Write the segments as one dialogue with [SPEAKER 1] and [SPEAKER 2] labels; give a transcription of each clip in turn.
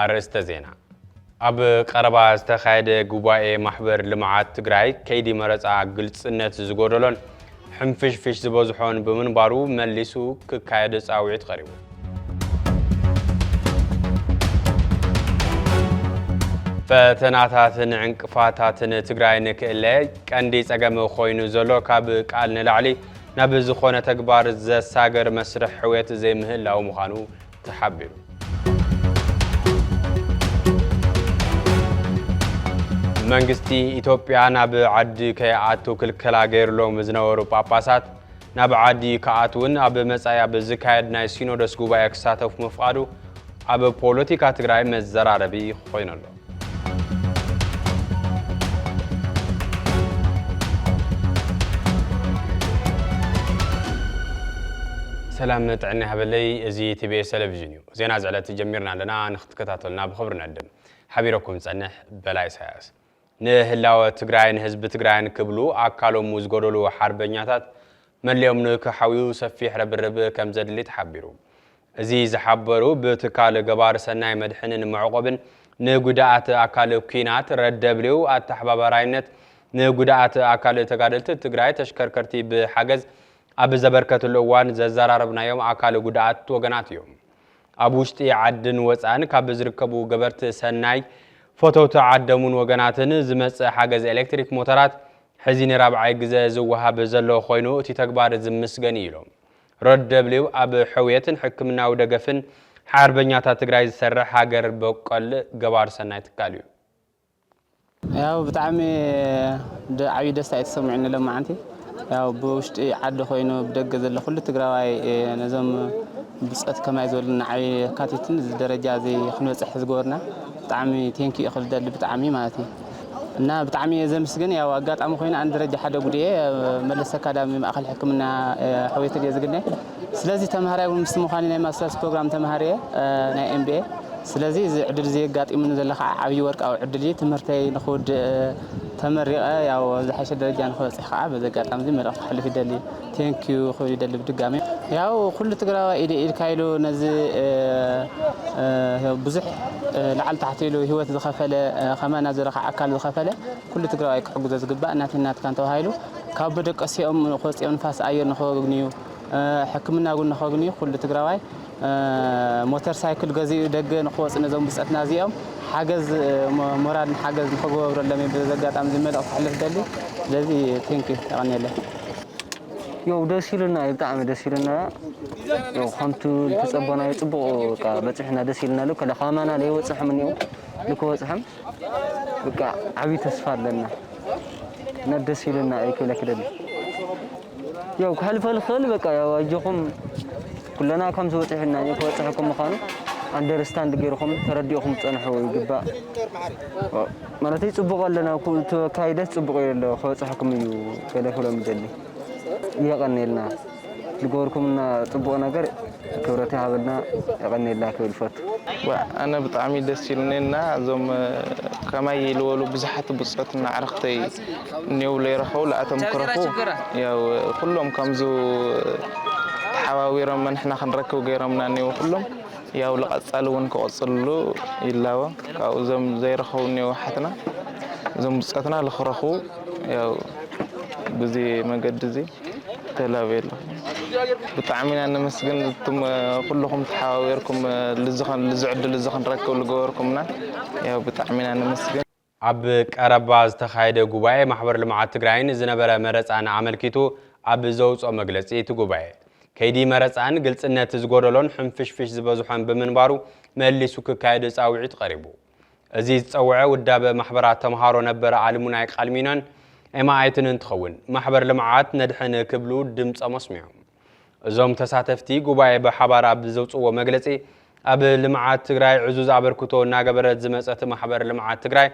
[SPEAKER 1] ኣርእስተ ዜና ኣብ ቀረባ ዝተኻየደ ጉባኤ ማሕበር ልምዓት ትግራይ ከይዲ መረፃ ግልፅነት ዝጎደሎን ሕንፍሽፍሽ ዝበዝሖን ብምንባሩ መሊሱ ክካየድ ጻውዒት ቐሪቡ። ፈተናታትን ዕንቅፋታትን ትግራይ ንክእለ ቀንዲ ጸገም ኮይኑ ዘሎ ካብ ቃል ንላዕሊ ናብ ዝኾነ ተግባር ዘሳገር መስርሕ ሕውየት ዘይምህላው ምዃኑ ተሓቢሩ። መንግስቲ ኢትዮጵያ ናብ ዓዲ ከይኣቱ ክልከላ ገይሩሎም ዝነበሩ ጳጳሳት ናብ ዓዲ ክኣትውን ኣብ መጻኢ ኣብ ዝካየድ ናይ ሲኖዶስ ጉባኤ ክሳተፉ ምፍቓዱ ኣብ ፖለቲካ ትግራይ መዘራረቢ ኮይኑ ኣሎ። ሰላም ጥዕና ይሃበለይ እዚ ቲቢኤስ ቴሌቪዥን እዩ ዜና ዝዕለት ጀሚርና ኣለና ንክትከታተሉና ብክብሪ ንዕድም ሓቢረኩም ዝፀንሕ በላይ ኢሳያስ ንህላወ ትግራይን ህዝቢ ትግራይን ክብሉ ኣካሎሙ ዝጎደሉ ሓርበኛታት መለዮም ንክሓውዩ ሰፊሕ ረብርብ ከም ዘድሊ ተሓቢሩ እዚ ዝሓበሩ ብትካል ገባሪ ሰናይ መድሕንን መዕቖብን ንጉዳኣት ኣካል ኩናት፣ ረደብሊው፣ ኣተሓባባራይነት ንጉዳኣት ኣካል ተጋደልቲ ትግራይ ተሽከርከርቲ ብሓገዝ ኣብ ዘበርከትሉ እዋን ዘዘራረብናዮም ኣካል ጉዳኣት ወገናት እዮም። ኣብ ውሽጢ ዓድን ወፃእን ካብ ዝርከቡ ገበርቲ ሰናይ፣ ፈተውቲ ዓደሙን ወገናትን ዝመፅእ ሓገዝ ኤሌክትሪክ ሞተራት ሕዚ ንራብዓይ ግዘ ዝወሃብ ዘሎ ኮይኑ እቲ ተግባር ዝምስገን እዩ ኢሎም። ሮድ ደብሊው ኣብ ሕውየትን ሕክምናዊ ደገፍን ሓርበኛታት ትግራይ ዝሰርሕ ሃገር በቆል ገባር ሰናይ ትካል እዩ።
[SPEAKER 2] ያው ብጣዕሚ ደ- ዓብዪ ደስታ እዩ ተሰሚዑኒ ሎማዓንቲ ያው ብውሽጢ ዓዲ ኮይኑ ብደገ ዘሎ ኩሉ ትግራዋይ እ፣ ነዞም ብፆት ከማይ ዝበሉ ንዓብዪ የካቲትን እዚ ደረጃ እዚ ክንበፅሕ ዝገበሩና ብጣዕሚ ቴንኪ እዩ ክብል ደሊ ብጣዕሚ ማለት እዩ እና ብጣዕሚ እየ ዘምስግን ያው ኣጋጣሚ ኮይኑ ኣን ደረጃ ሓደ ጉድየ መለስ ኣካዳሚ ማእኸል ሕክምና ሕውየት እየ ዝግነ ስለዚህ ተምሃራይ እውን ምስቲ ምዃኒ ናይ ማስተርስ ፕሮግራም ተምሃሪ እየ ናይ ኤምቢኤ ስለዚህ እዚ ዕድል እዚ የጋጢሙኒ ዘሎ ከዓ ዓብዪ ወርቃዊ ዕድል እዩ ትምህርተይ ንክውድእ ተመሪቐ ያው ዝሓሸ ደረጃ ንክበፅሕ ከዓ በዚ ኣጋጣሚ እዚ መልእኽቲ ክሕልፍ ይደሊ Thank you ክብል ይደሊ ብድጋሜ ያው ኩሉ ትግራዋይ ኢደ ኢድካ ኢሉ ነዚ ብዙሕ ላዕሊ ታሕቲ ኢሉ ሂወት ዝኸፈለ ከማና ዝረካ ኣካል ዝኸፈለ ኩሉ ትግራዋይ ክሕግዞ ዝግባእ ናተይ ናትካን ተባሂሉ ካብ በደቀሲኦም ክወፅኦም ንፋስ ኣየር ንኸግንዩ ሕክምና እውን ንኸግንዩ ኩሉ ትግራዋይ ሞተር ሳይክል ገዚኡ ደገ ንክወፅ ነዞም ብፀትና እዚኦም ሓገዝ ሞራልን ሓገዝ ንክገበብረሎም እዩ በዚ ኣጋጣሚ እዚ መልእኽቲ ክሕልፍ ደሊ ስለዚ ቴንክ ዩ የቐንየለይ
[SPEAKER 3] ያው ደስ ኢሉና እዩ ብጣዕሚ ደስ ኢሉና ያው ከምቲ ዝተጸበናዮ ጽቡቕ በቃ በጺሕና ደስ ኢሉና ኣሎ ከላ ካማና ለይወጽሕም እኒኦ ልክወጽሕም በቃ ዓብዪ ተስፋ ኣለና እና ደስ ኢሉና እዩ ክብለኪ ደሊ ያው ክሕልፎ ልኽእል በቃ ያው ኣጆኹም ኩለና ከምዚ በፂሑና እዩ ክበፅሐኩም ምዃኑ ኣንደርስታንድ ገይርኹም ተረዲእኹም ፀንሑ ይግባእ ማለተይ ፅቡቕ ኣለና እቲ ኣካይደስ ፅቡቕ እዩ ኣሎ ክበፅሐኩም እዩ ገለ ክብሎም ይደሊ የቐኒልና ዝገበርኩምና ፅቡቕ ነገር ክብረት ይሃበልና የቀንየልና ክብል ይፈቱ። ዋእ ኣነ
[SPEAKER 4] ብጣዕሚ ደስ ኢሉኒ እና እዞም ከማይ ልወሉ ብዙሓት ብጾት እና ኣዕርክተይ እኔው ለይረከቡ ለኣቶም ክረኩ ያው ኩሎም ከምዙ ተሓባቢሮም መነሕና ክንረክብ ገይሮምና እኔው ኩሎም ያው ለቀጻሊ እውን ክቅጽልሉ ይላቦ ካብኡ እዞም ዘይረከቡ እኔው ኣሓትና እዞም ብጾትና ልክረኩቡ ያው ብዚ መገዲ እዚ ተላቤሎ ብጣዕሚ ኢና ነመስግን እቱም ኩልኹም ተሓባቢርኩም ልዚ ዕድል እዚ ክንረክብ ልገበርኩምና ያው ብጣዕሚ ኢና ነመስግን። ኣብ
[SPEAKER 1] ቀረባ ዝተኻየደ ጉባኤ ማሕበር ልምዓት ትግራይን ዝነበረ መረፃን ኣመልኪቱ ኣብ ዘውፅኦ መግለፂ እቲ ጉባኤ ከይዲ መረፃን ግልፅነት ዝጎደሎን ሕንፍሽፍሽ ዝበዝሖን ብምንባሩ መሊሱ ክካየድ ፃውዒት ቐሪቡ። እዚ ዝጸውዐ ውዳበ ማሕበራት ተምሃሮ ነበር ኣልሙናይ ቃልሚኖን ኤማኣይትን እንትኸውን ማሕበር ልምዓት ነድሕን ክብሉ ድምጾም ኣስሚዖም። እዞም ተሳተፍቲ ጉባኤ ብሓባር ኣብ ዘውጽዎ መግለጺ ኣብ ልምዓት ትግራይ ዕዙዝ ኣበርክቶ እናገበረት ዝመጸት ማሕበር ልምዓት ትግራይ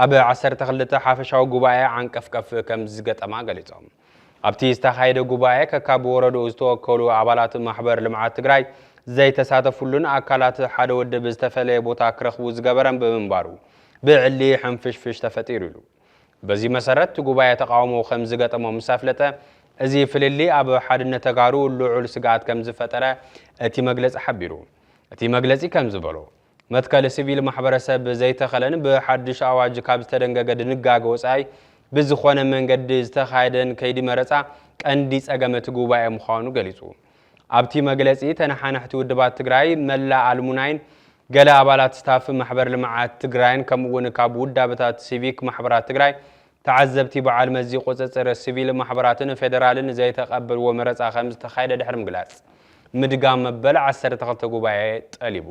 [SPEAKER 1] ኣብ ዓሰርተ ክልተ ሓፈሻዊ ጉባኤ ዓንቀፍቀፍ ከምዝገጠማ ገሊጾም። ኣብቲ ዝተኻየደ ጉባኤ ከካብ ወረድኡ ዝተወከሉ ኣባላት ማሕበር ልምዓት ትግራይ ዘይተሳተፍሉን ኣካላት ሓደ ወድብ ዝተፈለየ ቦታ ክረኽቡ ዝገበረን ብምንባሩ ብዕሊ ሕንፍሽፍሽ ተፈጢሩ ኢሉ። በዚ መሰረት እቲ ጉባኤ ተቓውሞ ከምዝገጠሞ ምስ ኣፍለጠ እዚ ፍልልይ ኣብ ሓድነት ተጋሩ ልዑል ስግኣት ከምዝፈጠረ እቲ መግለፂ ሓቢሩ። እቲ መግለፂ ከምዝበሎ። መትከል ሲቪል ማሕበረሰብ ዘይተኸለን ብሓዱሽ ኣዋጅ ካብ ዝተደንገገ ድንጋገ ወፃኢ ብዝኾነ መንገዲ ዝተኻየደን ከይዲ መረፃ ቀንዲ ፀገም እቲ ጉባኤ ምዃኑ ገሊፁ። ኣብቲ መግለፂ ተነሓናሕቲ ውድባት ትግራይ፣ መላእ ኣልሙናይን ገለ ኣባላት ስታፍ ማሕበር ልምዓት ትግራይን ከምኡ እውን ካብ ውዳበታት ሲቪክ ማሕበራት ትግራይ ተዓዘብቲ በዓል መዚ ቁፅፅር ስቪል ማሕበራትን ፌደራልን ዘይተቐበልዎ መረፃ ከምዝተኻየደ ድሕሪ ምግላፅ ምድጋም መበል ዓሰርተ ክልተ ጉባኤ ጠሊቡ።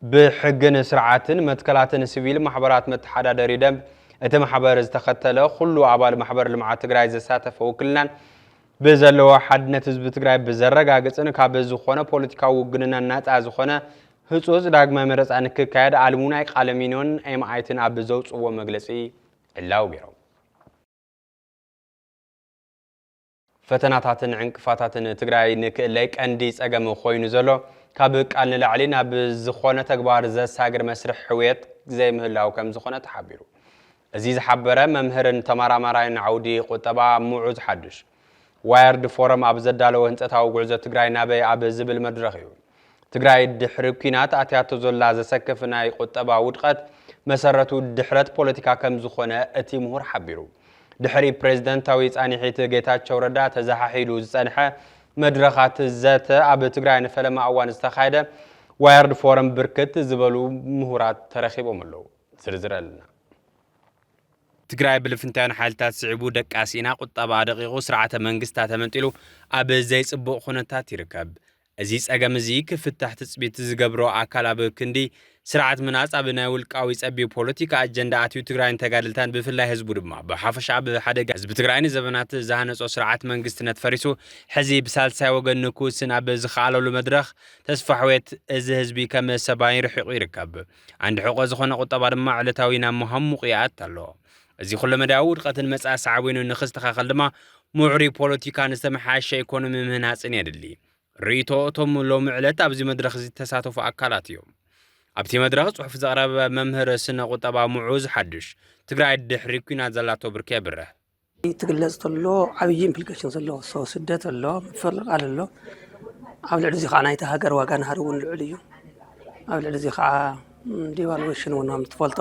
[SPEAKER 1] ብሕግን ስርዓትን መትከላትን ስቪል ማሕበራት መተሓዳደሪ ደንብ እቲ ማሕበር ዝተኸተለ ኹሉ ኣባል ማሕበር ልምዓት ትግራይ ዘሳተፈ ውክልናን ብዘለዎ ሓድነት ህዝቢ ትግራይ ብዘረጋግፅን ካብ ዝኾነ ፖለቲካዊ ውግንናን ናፃ ዝኾነ ህፁፅ ዳግማይ መረፃ ንክካየድ ኣልሙናይ ቃለሚኖን ኤምኣይትን ኣብ ዘውፅእዎ መግለፂ ዕላዊ ገይሮም። ፈተናታትን ዕንቅፋታትን ትግራይ ንክእለይ ቀንዲ ፀገም ኾይኑ ዘሎ ካብ ቃል ንላዕሊ ናብ ዝኾነ ተግባር ዘሳግር መስርሕ ሕውየት ዘይምህላው ከምዝኾነ ተሓቢሩ። እዚ ዝሓበረ መምህርን ተመራማራይን ዓውዲ ቁጠባ ሙዑዝ ሓዱሽ፣ ዋየርድ ፎረም ኣብ ዘዳለዎ ህንፀታዊ ጉዕዞ ትግራይ ናበይ ኣብ ዝብል መድረኽ እዩ። ትግራይ ድሕሪ ኲናት ኣትያቶ ዘላ ዘሰክፍ ናይ ቁጠባ ውድቐት መሰረቱ ድሕረት ፖለቲካ ከምዝኾነ እቲ ምሁር ሓቢሩ። ድሕሪ ፕሬዝደንታዊ ፃኒሒት ጌታቸው ረዳ ተዘሓሒሉ ዝፀንሐ መድረኻት ዘተ ኣብ ትግራይ ንፈለማ እዋን ዝተኻየደ ዋየርድ ፎረም ብርክት ዝበሉ ምሁራት ተረኺቦም ኣለዉ። ዝርዝር ኣለና። ትግራይ ብልፍንታዊያን ሓይልታት ስዒቡ ደቃ ሲኢና፣ ቁጠባኣ ደቂቑ፣ ስርዓተ መንግስታ ተመንጢሉ ኣብ ዘይጽቡቕ ኩነታት ይርከብ። እዚ ጸገም እዚ ክፍታሕ ትጽቢት ዝገብሮ ኣካል ኣብ ክንዲ ስርዓት ምህናጽ ኣብ ናይ ውልቃዊ ጸቢብ ፖለቲካ ኣጀንዳ ኣትዩ ትግራይን ተጋደልታን ብፍላይ ህዝቡ ድማ ብሓፈሻ ኣብ ሓደጋ ህዝቢ ትግራይ ንዘበናት ዝሃነጾ ስርዓት መንግስትነት ፈሪሱ ሕዚ ብሳልሳይ ወገን ንክውስን ኣብ ዝኸኣለሉ መድረኽ ተስፋሕዌት እዚ ህዝቢ ከም ሰባይን ርሒቑ ይርከብ። ዓንዲ ሕቆ ዝኾነ ቁጠባ ድማ ዕለታዊ ናብ መሃሙቕ ይኣት ኣሎ። እዚ ኩለመዳያዊ ውድቐትን መጻኢ ሳዕቤኑ ንክስተኻኸል ድማ ምዕሩይ ፖለቲካን ዝተመሓየሸ ኢኮኖሚ ምህናጽን የድሊ። ርእይቶ እቶም ሎሚ ዕለት ኣብዚ መድረኽ ዝተሳተፉ ኣካላት እዮም። ኣብቲ መድረኽ ጽሑፍ ዘቕረበ መምህር ስነ ቁጠባ ሙዑዝ ሓዱሽ፣ ትግራይ ድሕሪ ኲናት ዘላቶ ብርኪ የብርህ። ትግለፅ
[SPEAKER 5] ተሎ ዓብዪ ኢምፕሊኬሽን ዘለዎ ሰው ስደት ኣሎ፣ ምፍንቓል ኣሎ። ኣብ ልዕሊ እዚ ከዓ ናይቲ ሃገር ዋጋ ናህሪ እውን ልዑል እዩ። ኣብ ልዕሊ እዚ ከዓ ዲቫሉዌሽን እውን ከም ትፈልጦ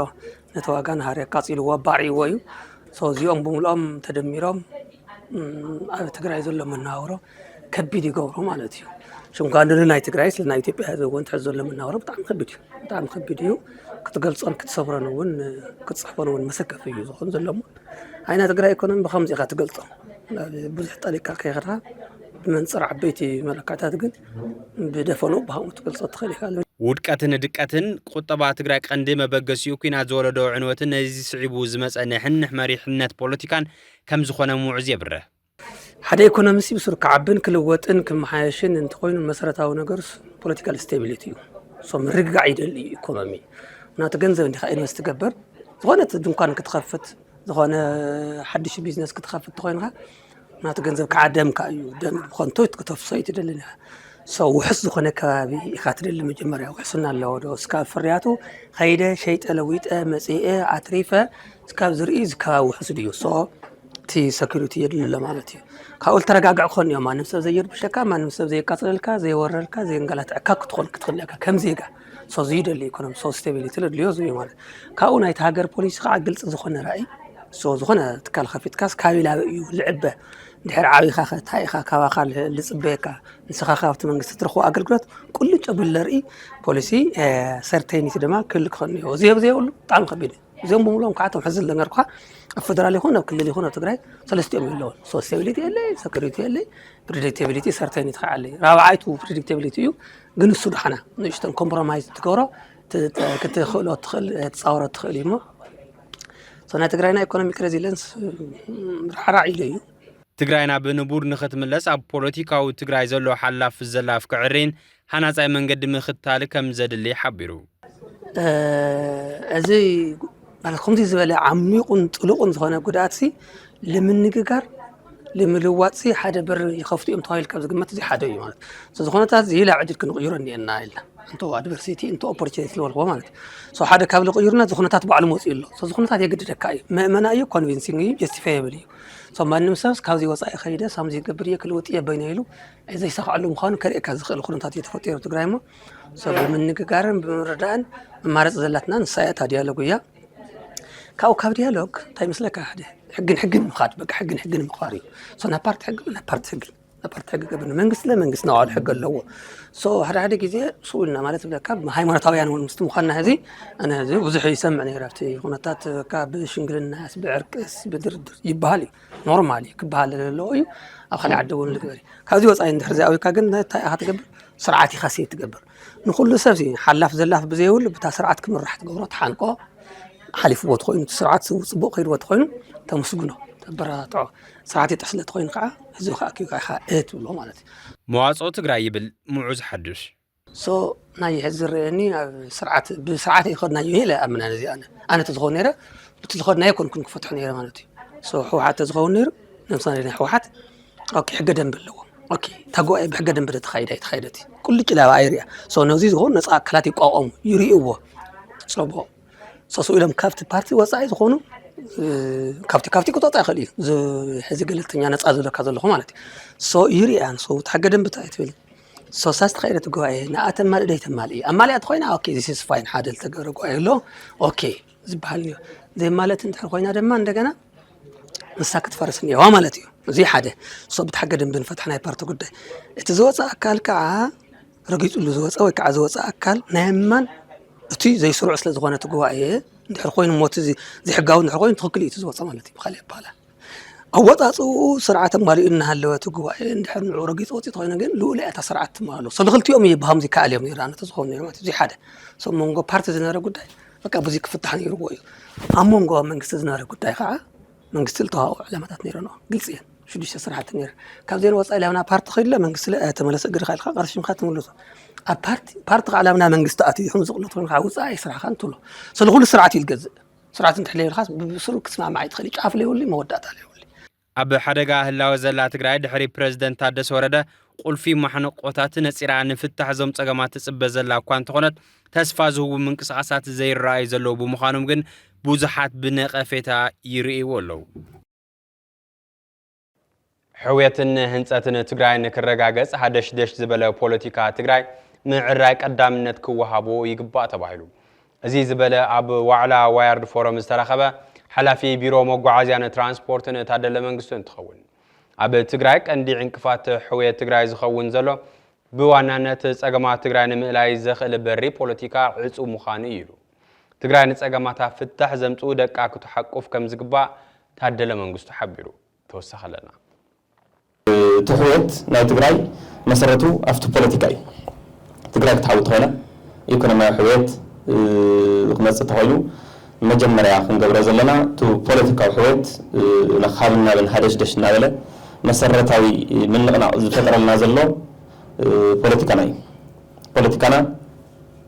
[SPEAKER 5] ነቲ ዋጋ ናህሪ ኣቃፂልዎ ኣባዕይዎ እዩ። ሰው እዚኦም ብምልኦም ተደሚሮም ኣብ ትግራይ ዘሎ መናውሮ ከቢድ ይገብሮ ማለት እዩ። ሽንኳን ንናይ ትግራይ ስለ ናይ ኢትዮጵያ ህዝቢ እውን ትሕዚ ዘሎ መናውሮ ብጣዕሚ ከቢድ እዩ። ብጣዕሚ ከቢድ እዩ። ክትገልፆን ክትሰብሮን እውን ክትፅሕፎን እውን መሰከፊ እዩ ዝኾን ዘሎ ናይ ትግራይ ኢኮኖሚ ብኸምዚ ኢኻ ትገልፆ ብዙሕ ጠሊቕካ ከይኸድካ ብመንፅር ዓበይቲ መለካዕታት ግን ብደፈንኡ ብሃምኡ ትገልፆ ትኽእል ኢኻ ውድቀትን ድቀትን
[SPEAKER 1] ቁጠባ ትግራይ ቀንዲ መበገሲኡ ኩናት ዝወለዶ ዕንወትን ነዚ ስዒቡ ዝመፀ ንሕንሕ መሪሕነት ፖለቲካን ከም ዝኾነ ምውዕዝ የብርህ። ሓደ
[SPEAKER 5] ኢኮኖሚስት ብሱር ክዓብን ክልወጥን ክመሓየሽን እንተኾይኑ መሰረታዊ ነገርስ ፖለቲካል ስቴቢሊቲ እዩ። ሶ ምርግጋዕ ይደሊ እዩ ኢኮኖሚ ምክንያቱ ገንዘብ እንዲኻ ኢንቨስት ትገብር ዝኾነት ድንኳን ክትኸፍት ዝኾነ ሓድሽ ቢዝነስ ክትኸፍት ተኾይንካ ምክንያቱ ገንዘብ ከዓ ደምካ እዩ ደም ብኸንቶ ክተፍሶ እዩ ትደልን ኢኻ ሰው ውሕስ ዝኾነ ከባቢ ኢኻ ትደሊ መጀመርያ ውሕስና ኣለዎ ዶ እስካብ ፍርያቱ ከይደ ሸይጠ ለዊጠ መፅአ ኣትሪፈ እስካብ ዝርኢ እዚ ከባቢ ውሕስ ድዩ ሶ እቲ ሰኪሪቲ የድሊ ኣሎ ማለት እዩ ካብኡ ዝተረጋግዕ ክኾን እዮም ማንም ሰብ ዘይርብሸካ ማንም ሰብ ዘየቃፅለልካ ዘየወረልካ ዘየንገላትዐካ ክትኾን ክትኽእል ኢካ ከም ዜጋ ሶ ዝዩ ደሊ ኢኮኖሚ ሶ ስቴቢሊቲ ለድልዮ ዝዩ ማለት ካብኡ ናይቲ ሃገር ፖሊሲ ከዓ ግልፂ ዝኾነ ራእይ ሶ ዝኾነ ትካል ከፊትካስ ካበይ ላበ እዩ ዝዕበ ድሕር ዓብኻ ከ እንታይ ኢኻ ካባኻ ዝፅበየካ ንስኻ ካብቲ መንግስቲ ትረኽቦ ኣገልግሎት ቁልጭ ኣቢሉ ዘርኢ ፖሊሲ ሰርተይኒቲ ድማ ክህሉ ክኸውን እኒኦ እዚ ኣብ ዘይብሉ ብጣዕሚ ከቢድ እዩ እዚኦም ብምሉኦም ከዓ እቶም ሕዚ ዝነገርኩኻ ኣብ ፌደራል ይኹን ኣብ ክልል ይኹን ኣብ ትግራይ ሰለስቲኦም የለውን ሶስቴቢሊቲ የለይ ሰኪሪቲ የለይ ፕሪዲክቴቢሊቲ ሰርቴኒቲ ከዓ ኣለይ ራብዓይቱ ፕሪዲክቴቢሊቲ እዩ ግን እሱ ድሓና ንእሽተን ኮምፕሮማይዝ ትገብሮ ክትኽእሎ ትኽእል ትፃወሮ ትኽእል እዩ እሞ ናይ ትግራይና ኢኮኖሚክ ሬዚለንስ ራዕራዕ ኢሉ እዩ ትግራይና
[SPEAKER 1] ብንቡር ንኽትምለስ ኣብ ፖለቲካዊ ትግራይ ዘሎ ሓላፍ ዘላፍ ክዕሪን ሃናፃይ መንገዲ ምኽታል ከምዘድሊ ሓቢሩ።
[SPEAKER 5] እዚ ማለት ከምዚ ዝበለ ዓሚቑን ጥሉቕን ዝኾነ ጉድኣት ሲ ንምንግጋር ንምልዋጥ ሲ ሓደ በር ይኸፍቱ እዮም ተባሂሉ ካብ ዝግመት እዚ ሓደ እዩ ማለት እዚ ኩነታት እዚ ላብ ዕድል ክንቕይሮ እኒኤና ኢልና እንተ ኣድቨርሲቲ እንተ ኦፖርቹኒቲ ዝበልክዎ ማለት እዩ ሶ ሓደ ካብ ዝቕይሩና እዚ ኩነታት ባዕሉ መፅኡ ኣሎ ሶ እዚ ኩነታት የግድደካ እዩ መእመና እዩ ኮንቪንሲንግ እዩ ጀስቲፋየብል እዩ ሶ ማንም ሰብስ ካብዚ ወፃኢ ከይደ ሳምዚ ይገብር እየ ክልውጥ እየ በይነ ኢሉ ዘይሳኸዐሉ ምዃኑ ከርእየካ ዝኽእል ኩነታት እዩ ተፈጢሩ ኣብ ትግራይ እሞ ሰብ ብምንግጋርን ብምርዳእን መማረፂ ዘላትና ንሳ እያ እታ ዲያሎግ እያ ካብኡ ካብ ዲያሎግ እንታይ ይመስለካ ሓደ ሕግን ሕግን ምኻድ በቃ ሕግን ሕግን ምኽባር እዩ ሶ ናብ ፓርቲ ሕጊ ናብ ፓርቲ ሕጊ ናብ ፓርቲ ሕጊ ገብር መንግስቲ ለመንግስቲ ናይ ባዕሉ ሕጊ ኣለዎ ሶ ሓደ ሓደ ግዜ ስኡ ኢልና ማለት ብለካ ሃይማኖታውያን እውን ምስቲ ምዃንና ሕዚ ኣነ ሕዚ ብዙሕ ይሰምዕ ነይረ ኣብቲ ኩነታት በቃ ብሽምግልናስ ብዕርቅስ ብድርድር ይበሃል እዩ ኖርማል እዩ ክበሃል ዘለዎ እዩ ኣብ ካልእ ዓዲ እውን ልግበር እዩ ካብዚ ወፃኢ እንድሕር ዘይኣዊካ ግን እንታይ ኢኻ ትገብር ስርዓት ኢኻ ሴት ትገብር ንኩሉ ሰብ ሓላፍ ዘላፍ ብዘይብሉ ብታ ስርዓት ክምራሕ ትገብሮ ትሓንቆ ሓሊፍዎ ትኮይኑ እቲ ስርዓት ፅቡቅ ከይድዎ ተኮይኑ ተመስግኖ ተበረታትዖ ስርዓት ይጥሕስ ለተኮይኑ ከዓ ህዝቢ ከኣኪብካ ኢኻ እትብሎ ማለት እዩ መዋፅኦ ትግራይ
[SPEAKER 1] ይብል ሙዑዝ ሓዱሽ። So ናይ
[SPEAKER 5] ሕዚ ዝረኣየኒ ኣብ ስርዓት ብስርዓት ኣይኸድናዮን ኢለ ይኣምን ኣነ እዚ ኣነ ኣነ ተዝኸውን ነይረ እቲ ዝኸድናዮ ኮንኩን ክፈትሖ ነይረ ማለት እዩ ሶ ህወሓት ተዝኸውን ነይሩ ለምሳሌ ናይ ህወሓት ኦኬ ሕገ ደንቢ ኣለዎ ኦኬ እታ ጉባኤ ብሕገ ደንቢ ተተኻይደ ኣይተኻይደት እዩ ቁልጭ ላባ ኣይርያ ሶ ነዚ ዝኸውን ነፃ ኣካላት ይቋቋሙ ይርእይዎ ፅቡቕ ሰሱ ኢሎም ካብቲ ፓርቲ ወፃኢ ዝኾኑ ካብቲ ካብቲ ክተወጣ ይኽእል እዩ ሕዚ ገለልተኛ ነፃ ዝብለካ ዘለኹ ማለት እዩ ሶ ይርያ ንሱ እቲ ሕገ ደንቢ እንታይ ትብል ሶሳ ዝተኸይለት ጉባኤ ንኣ ተማልእ ደይ ተማልእ እዩ ኣማልያ ተኮይና ኦኬ ዚስ ኢዝ ፋይን ሓደ ዝተገብረ ጉባኤ ኣሎ ኦኬ ዝበሃል እዮ ዘይማለት እንድሕር ኮይና ድማ እንደገና ንሳ ክትፈርስ እኒዋ ማለት እዩ እዚ ሓደ ሶ ብታሕገ ደንቢ ንፈትሕ ናይ ፓርቲ ጉዳይ እቲ ዝወፀ ኣካል ከዓ ረጊፅሉ ዝወፀ ወይ ከዓ ዝወፀ ኣካል ናይ ኣማን እቲ ዘይስሩዕ ስለ ዝኾነ እቲ ጉባኤ እንድሕር ኮይኑ ሞት እዚ ዘይሕጋዊ እንድሕር ኮይኑ ትኽክል እዩ እቲ ዝወፀ ማለት እዩ ብካሊእ ኣባሃላ ኣወፃፅእኡ ስርዓት ኣማሊኡ እናሃለወ እቲ ጉባኤ እንድሕር ንዑ ረጊፁ ወፂኡ ተኮይኑ ግን ልኡላዊ እታ ስርዓት ትማሎ ሰብ ንክልቲኦም እዩ ብከምዚ ይከኣል እዮም ይርኣኑ ተዝኮኑ ነይሩ ማለት እዚ ሓደ ሰብ መንጎ ፓርቲ ዝነበረ ጉዳይ በቃ ብዙ ክፍታሕ ነይርዎ እዩ ኣብ መንጎ መንግስቲ ዝነበረ ጉዳይ ከዓ መንግስቲ ዝተዋኦ ዕላማታት ነይረን ግልፂ እየን ሽዱሽተ ስራሕቲ ነይረ ካብዚን ወፃኢ ላብና ፓርቲ ከይድለ መንግስቲ ተመለሰ እግርካ ኢልካ ቀርሽምካ ትምልሶ ኣብ ፓርቲ ፓርቲ ከዓ ላብና መንግስቲ ኣትዩ ይኹን ዝቕነት ኮይኑ ከዓ ውፃኢ ስራሕካ እንትብሎ ስለኩሉ ስርዓት እዩ ዝገዝእ ስርዓት እንተሕሊልካስ ብሱሩ ክትስማማዕ ኣይትኽእልይ ጫፍ ለይብሉይ መወዳእታ ለይብሉይ። ኣብ ሓደጋ
[SPEAKER 1] ህላወ ዘላ ትግራይ ድሕሪ ፕረዚደንት ታደሰ ወረደ ቁልፊ ማሕንቖታት ነፂራ ንፍታሕ እዞም ፀገማት ትፅበ ዘላ እኳ እንተኾነት ተስፋ ዝህቡ ምንቅስቓሳት ዘይረኣዩ ዘለዉ ብምዃኖም ግን ብዙሓት ብነቐፌታ ይርእይዎ ኣለዉ። ሕውየትን ህንፀትን ትግራይ ንክረጋገፅ ሃደሽደሽ ዝበለ ፖለቲካ ትግራይ ምዕራይ ቀዳምነት ክወሃቦ ይግባእ ተባሂሉ። እዚ ዝበለ ኣብ ዋዕላ ዋያርድ ፎረም ዝተረኸበ ሓላፊ ቢሮ መጓዓዝያን ትራንስፖርትን ታደለ መንግስቱ እንትኸውን ኣብ ትግራይ ቀንዲ ዕንቅፋት ሕውየት ትግራይ ዝኸውን ዘሎ ብዋናነት ፀገማት ትግራይ ንምእላይ ዘኽእል በሪ ፖለቲካ ዕፁብ ምዃኑ እዩ ኢሉ። ትግራይ ንፀገማታ ፍታሕ ዘምፅኡ ደቃ ክትሓቁፍ ከምዝግባእ ታደለ መንግስቱ ሓቢሩ። ተወሳኺ ኣለና።
[SPEAKER 6] ትሕውየት ናይ ትግራይ መሰረቱ ኣፍቲ ፖለቲካ እዩ። ትግራይ ክትሓዊ ተኾይና ኢኮኖሚያዊ ሕውየት ክመፅእ ተኾይኑ መጀመርያ ክንገብሮ ዘለና እቱ ፖለቲካዊ ሕውየት ካብን ናብን ሃደሽደሽ እናበለ መሰረታዊ ምንቕናቕ ዝፈጥረልና ዘሎ ፖለቲካና እዩ። ፖለቲካና።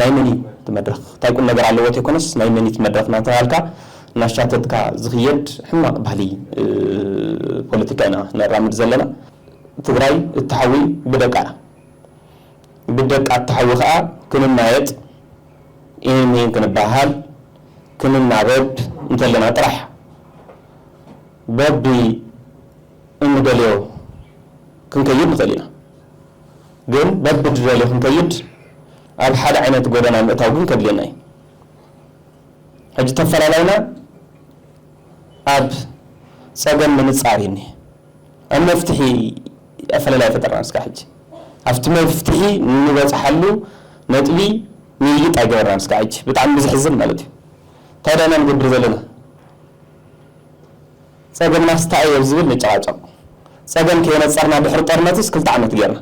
[SPEAKER 6] ናይ መን እዩ እቲ መድረኽ? ታይ ቁምነገር ኣለዎ ተይኮነስ ናይ መን እዩ እቲ መድረኽ እናተባሃልካ እናሻተትካ ዝኽየድ ሕማቕ ባህሊ ፖለቲካ ኢና ነራምድ ዘለና። ትግራይ እትሓዊ ብደቃ እያ። ብደቃ እትሓዊ ከዓ ክንማየጥ፣ ኢንይን ክንበሃሃል፣ ክንናበብ እንተለና ጥራሕ እያ። በቢ እንደልዮ ክንከይድ ንኽእል ኢና ግን በብድደልዮ ክንከይድ ኣብ ሓደ ዓይነት ጎደና ምእታው ግን ከድልየና እዩ ሕጂ ተፈላላይና ኣብ ጸገም ምንጻር እዩ እኒሀ ኣብ መፍትሒ ኣፈለላይ ኣይፈጠርናን እስካዕ ሕጂ ኣብቲ መፍትሒ ንበጽሓሉ ነጥቢ ምይይጥ ኣይገበርናን እስካዕ ሕጂ ብጣዕሚ ብዝሕዝን ማለት እዩ እንታይ ዳኢና ንገብር ዘለና ጸገምናስ ታይ'ዩ ኣብ ዝብል ንጨቓጨቕ። ጸገም ከየነጸርና ድሕሪ ጦርነትስ ክልተ ዓመት ጌርና።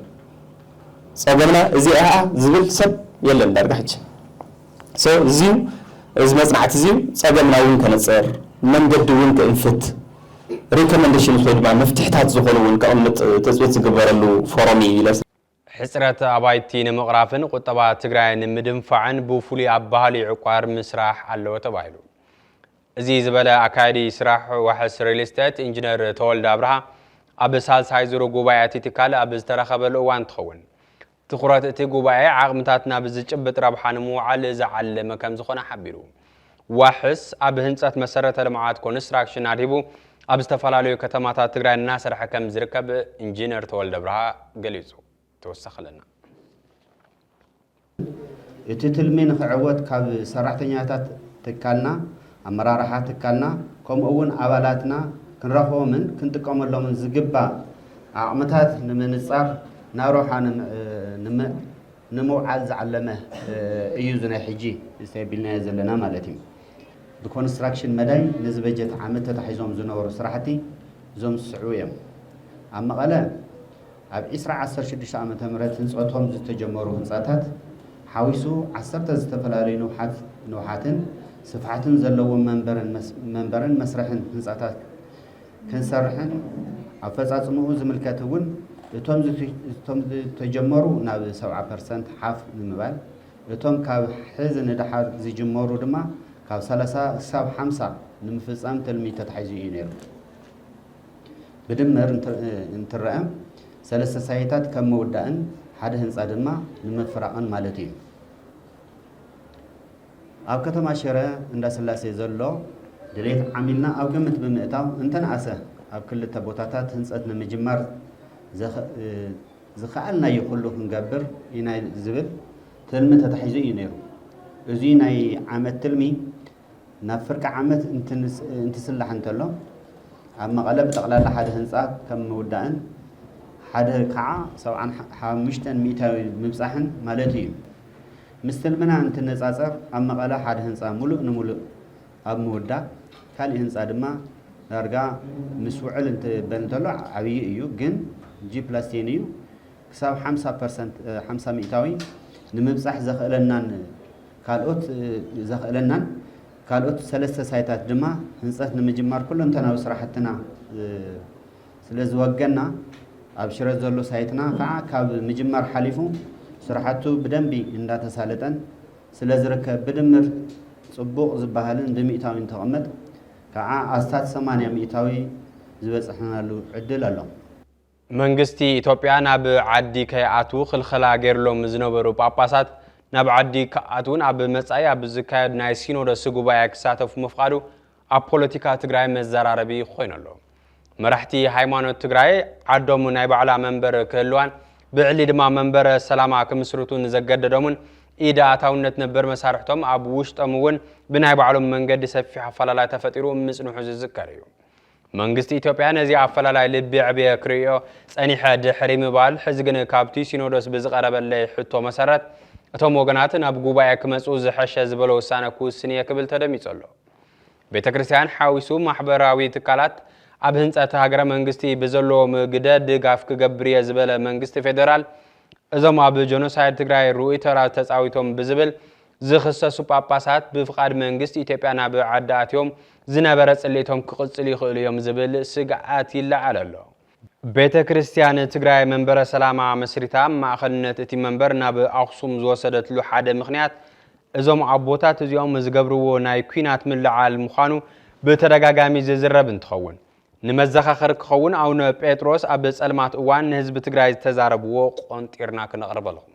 [SPEAKER 6] ጸገምና እዚ'ያ ዝብል ሰብ የለን ዳርጋ ሕጂ። So እዚ'ዩ እዚ መጽናዕቲ እዚ'ዩ ጸገምና እውን ከነጽር፣ መንገዲ እውን ክእንፍት፣ Recommendations ወይ ድማ መፍትሕታት ዝኾኑ እውን ከቕምጥ ትጽቢት ዝግበረሉ ፎረም'ዩ ኢለ።
[SPEAKER 1] ሕፅረት ኣባይቲ ንምቕራፍን ቁጠባ ትግራይ ንምድንፋዕን ብፍሉይ ኣባሃሊ ዕቋር ምስራሕ ኣለዎ ተባሂሉ። እዚ ዝበለ ኣካያዲ ስራሕ ዋሕስ ሪል ስቴት ኢንጂነር ተወልደ ኣብርሃ ኣብ ሳልሳይ ዙር ጉባኤ እቲ ትካል ኣብ ዝተረኸበሉ እዋን እንትኸውን ትኹረት እቲ ጉባኤ ዓቕምታት ናብ ዝጭብጥ ረብሓ ንምውዓል ዝዓለመ ከምዝኾነ ሓቢሩ። ዋሕስ ኣብ ህንፀት መሰረተ ልምዓት ኮንስትራክሽን ኣድሂቡ ኣብ ዝተፈላለዩ ከተማታት ትግራይ እናሰርሐ ከም ዝርከብ ኢንጂነር ተወልደብርሃ ገሊፁ። ተወሳኺ ኣለና።
[SPEAKER 7] እቲ ትልሚ ንኽዕወት ካብ ሰራሕተኛታት ትካልና፣ ኣመራርሓ ትካልና ከምኡ እውን ኣባላትና ክንረኽቦምን ክንጥቀመሎምን ዝግባእ ዓቕምታት ንምንፃር ናሮሓ ንምውዓል ዝዓለመ እዩ እዚ ናይ ሕጂ ተቢልናዮ ዘለና ማለት እዩ። ብኮንስትራክሽን መዳይ ነዚ በጀት ዓመት ተታሒዞም ዝነበሩ ስራሕቲ እዞም ዝስዕቡ እዮም። ኣብ መቐለ ኣብ ዕስራ ዓሰርተ ሽዱሽተ ዓመተ ምህረት ህንፀቶም ዝተጀመሩ ህንፃታት ሓዊሱ ዓሰርተ ዝተፈላለዩ ንውሓትን ስፍሓትን ዘለዎም መንበርን መስርሕን ህንፃታት ክንሰርሕን ኣፈፃፅምኡ ዝምልከት እውን እቶም ዝተጀመሩ ናብ ሰብዓ ፐርሰንት ሓፍ ንምባል እቶም ካብ ሕዚ ንደሓር ዝጅመሩ ድማ ካብ ሰላሳ ክሳብ ሓምሳ ንምፍፃም ትልሚ ተታሒዙ እዩ ነይሩ። ብድምር እንትረኣ ሰለስተ ሳይታት ከም ምውዳእን ሓደ ህንፃ ድማ ንምፍራቕን ማለት እዩ። ኣብ ከተማ ሽረ እንዳስላሴ ዘሎ ድሌት ዓሚልና ኣብ ግምት ብምእታው እንተንኣሰ ኣብ ክልተ ቦታታት ህንፀት ንምጅማር ዝኸኣልናዮ ኩሉ ክንገብር ኢና ዝብል ትልሚ ተታሒዙ እዩ ነይሩ። እዙይ ናይ ዓመት ትልሚ ናብ ፍርቂ ዓመት እንትስላሕ እንተሎ ኣብ መቐለ ብጠቕላላ ሓደ ህንፃ ከም ምውዳእን ሓደ ከዓ ሰብዓን ሓሙሽተን ሚእታዊ ምብፃሕን ማለት እዩ። ምስ ትልምና እንትነፃፀር ኣብ መቐለ ሓደ ህንፃ ሙሉእ ንሙሉእ ኣብ ምውዳእ ካሊእ ህንፃ ድማ ዳርጋ ምስ ውዕል እንትበል እንተሎ ዓብዪ እዩ ግን ጂ ፕላስ ቴን እዩ ክሳብ ሓምሳ ፐርሰንት ሓምሳ ሚእታዊ ንምብፃሕ ዘኽእለናን ካልኦት ዘኽእለናን ካልኦት ሰለስተ ሳይታት ድማ ህንፀት ንምጅማር ኩለንተናዊ ስራሕትና ስለዝወገና ኣብ ሽረ ዘሎ ሳይትና ከዓ ካብ ምጅማር ሓሊፉ ስራሕቱ ብደንቢ እንዳተሳለጠን ስለዝርከብ ብድምር ፅቡቕ ዝባሃልን ብሚእታዊ እንተቐመጥ ከዓ ኣስታት ሰማንያ ሚእታዊ ዝበፀሕናሉ ዕድል ኣሎ። መንግስቲ
[SPEAKER 1] ኢትዮጵያ ናብ ዓዲ ከይኣትዉ ክልኸላ ገይርሎም ዝነበሩ ጳጳሳት ናብ ዓዲ ክኣትዉን ኣብ መፃኢ ኣብ ዝካየድ ናይ ሲኖዶስ ጉባኤ ክሳተፉ ምፍቓዱ ኣብ ፖለቲካ ትግራይ መዘራረቢ ኾይኑ ኣሎ። መራሕቲ ሃይማኖት ትግራይ ዓዶም ናይ ባዕላ መንበር ክህልዋን ብዕሊ ድማ መንበረ ሰላማ ክምስርቱ ንዘገደዶምን ኢድ ኣእታውነት ነበር መሳርሕቶም ኣብ ውሽጦም እውን ብናይ ባዕሎም መንገዲ ሰፊሕ ኣፈላላይ ተፈጢሩ ምፅንሑ ዝዝከር እዩ። መንግስቲ ኢትዮጵያ ነዚ ኣፈላላይ ልቢ የዕብየ ክርእዮ ፀኒሐ ድሕሪ ምባል ሕዚ ግን ካብቲ ሲኖዶስ ብዝቐረበለይ ሕቶ መሰረት እቶም ወገናት ናብ ጉባኤ ክመፅኡ ዝሐሸ ዝበሎ ውሳነ ክውስን እየ ክብል ተደሚፁ ኣሎ። ቤተ ክርስቲያን ሓዊሱ ማሕበራዊ ትካላት ኣብ ህንፀት ሃገረ መንግስቲ ብዘለዎም ግደ ድጋፍ ክገብር እየ ዝበለ መንግስቲ ፌዴራል እዞም ኣብ ጀኖሳይድ ትግራይ ርኡይ ተራ ተፃዊቶም ብዝብል ዝኽሰሱ ጳጳሳት ብፍቓድ መንግስቲ ኢትዮጵያ ናብ ዓዲ ኣትዮም ዝነበረ ፅልኢቶም ክቕፅሉ ይኽእሉ እዮም ዝብል ስግኣት ይለዓል ኣሎ። ቤተ ክርስቲያን ትግራይ መንበረ ሰላማ መስሪታ ማእኸልነት እቲ መንበር ናብ ኣኽሱም ዝወሰደትሉ ሓደ ምኽንያት እዞም ኣቦታት እዚኦም ዝገብርዎ ናይ ኲናት ምልዕዓል ምዃኑ ብተደጋጋሚ ዝዝረብ እንትኸውን ንመዘኻኸሪ ክኸውን ኣውነ ጴጥሮስ ኣብ ፀልማት እዋን ንህዝቢ ትግራይ ዝተዛረብዎ ቆንጢርና ክነቕርበልኹም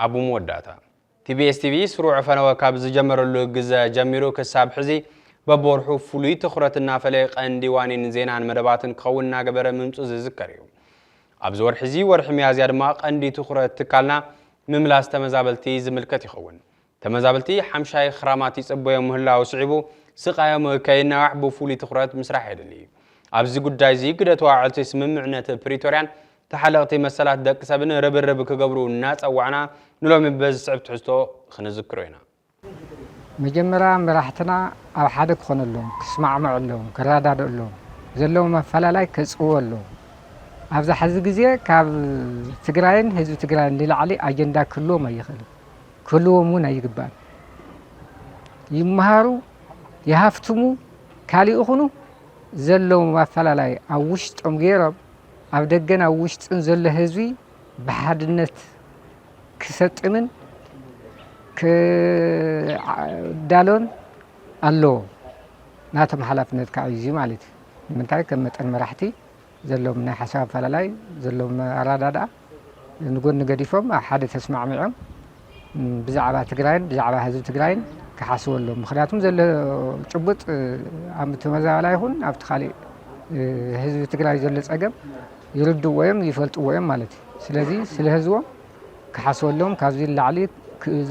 [SPEAKER 8] ኣብ
[SPEAKER 1] መወዳእታ፣ ቲቢኤስ ቲቪ ስሩዕ ፈነወ ካብ ዝጀመረሉ ግዘ ጀሚሩ ክሳብ ሕዚ በብወርሑ ፍሉይ ትኹረት እናፈለየ ቀንዲ ዋኒን ዜናን መደባትን ክኸውን እናገበረ ምምፁ ዝዝከር እዩ። ኣብዚ ወርሒ እዚ ወርሒ ሚያዝያ ድማ ቀንዲ ትኹረት ትካልና ምምላስ ተመዛበልቲ ዝምልከት ይኸውን። ተመዛበልቲ ሓምሻይ ኽራማት ይጽበዮም ምህላዉ ስዒቡ ስቓዮም ከይናዋሕ ብፍሉይ ትኹረት ምስራሕ የድሊ። ኣብዚ ጉዳይ'ዚ ግደ ተዋዕልቲ ስምምዕነት ፕሪቶርያን ተሓለቕቲ መሰላት ደቂ ሰብን ርብርብ ክገብሩ እናጸዋዕና ንሎሚ በዚ ዝስዕብ ትሕዝቶ ኽንዝክሮ ኢና።
[SPEAKER 9] መጀመርያ መራሕትና ኣብ ሓደ ክኾነሎም፣ ክስማዕምዐሎም፣ ክረዳድእሎም፣ ዘለዎም ኣፈላላይ ከጽብበሎም፣ ኣብዛ ሕዚ ግዜ ካብ ትግራይን ህዝቢ ትግራይን ንላዕሊ ኣጀንዳ ክህልዎም ኣይኽእልን። ክህልዎም እውን ኣይግባእን። ይመሃሩ ይሃፍትሙ ካልእ ይኹኑ ዘለዎም ኣፈላላይ ኣብ ውሽጦም ገይሮም ኣብ ደገን ኣብ ውሽጥን ዘሎ ህዝቢ ብሓድነት ክሰጥምን ክዳሎን ኣለዎ። ናቶም ሓላፍነት ከዓ እዩ ማለት እዩ። ንምንታይ ከም መጠን መራሕቲ ዘለዎም ናይ ሓሳብ ኣፈላላይ ዘለዎም ኣረዳድኣ ንጎኒ ገዲፎም ኣብ ሓደ ተስማዕሚዖም ብዛዕባ ትግራይን ብዛዕባ ህዝቢ ትግራይን ክሓስቡ ኣለዎም። ምክንያቱም ዘሎ ጭቡጥ ኣብ ተመዛባላ ይኹን ኣብቲ ካሊእ ህዝቢ ትግራይ ዘሎ ፀገም ይርድዎ እዮም ይፈልጥዎ እዮም ማለት እዩ። ስለዚ ስለ ህዝቦም ክሓስበሎም ካብዚ ንላዕሊ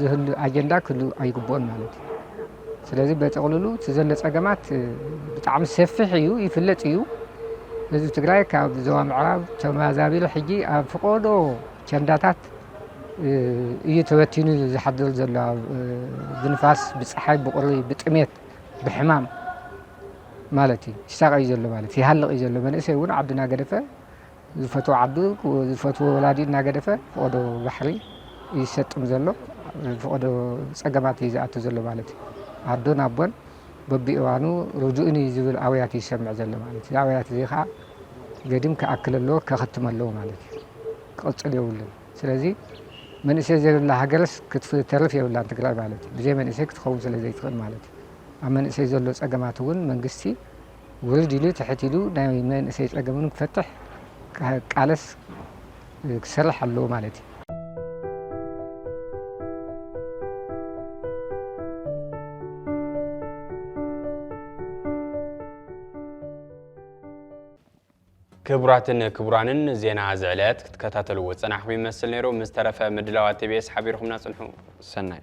[SPEAKER 9] ዝህሉ ኣጀንዳ ክህሉ ኣይግብኦን ማለት እዩ። ስለዚ በጥቕልሉ እቲ ዘሎ ጸገማት ብጣዕሚ ሰፊሕ እዩ፣ ይፍለጥ እዩ። ህዝቢ ትግራይ ካብ ዞባ ምዕራብ ተመዛቢሉ ሕጂ ኣብ ፍቆዶ ቸንዳታት እዩ ተበቲኑ ዝሓድር ዘሎ ብንፋስ፣ ብፀሓይ፣ ብቁሪ፣ ብጥሜት፣ ብሕማም ማለት እዩ ይሳቀ እዩ ዘሎ ማለት ይሃልቅ እዩ ዘሎ መንእሰይ እውን ዓድና ገደፈ ዝፈትዎ ዓዱ ዝፈትዎ ወላዲ እናገደፈ ፍቆዶ ባሕሪ እዩ ዝሰጥም ዘሎ ፍቆዶ ፀገማት እዩ ዝኣቱ ዘሎ ማለት እዩ ኣዶን ኣቦን በቢእዋኑ ርድኡኒ ዝብል ኣውያት እዩ ዝሰምዕ ዘሎ ማለት እዩ ኣውያት እዚ ከዓ ገዲም ክኣክል ኣለዎ ከኸትም ኣለዎ ማለት እዩ ክቕፅል የብሉን ስለዚ መንእሰይ ዘይብላ ሃገርስ ክትተርፍ የብላን ትግራይ ማለት እዩ ብዘይ መንእሰይ ክትኸውን ስለ ዘይትኽእል ማለት እዩ ኣብ መንእሰይ ዘሎ ፀገማት እውን መንግስቲ ውርድ ኢሉ ትሕት ኢሉ ናይ መንእሰይ ፀገም እውን ክፈትሕ ክቃለስ ክሰርሕ ኣለዎ ማለት እዩ።
[SPEAKER 1] ክቡራትን ክቡራንን ዜና እዚ ዕለት ክትከታተልዎ ዝጸናሕኩም ይመስል ነይሩ። ምስ ተረፈ ምድላዋት ቲቢኤስ ሓቢርኩምና ጽንሑ። ሰናይ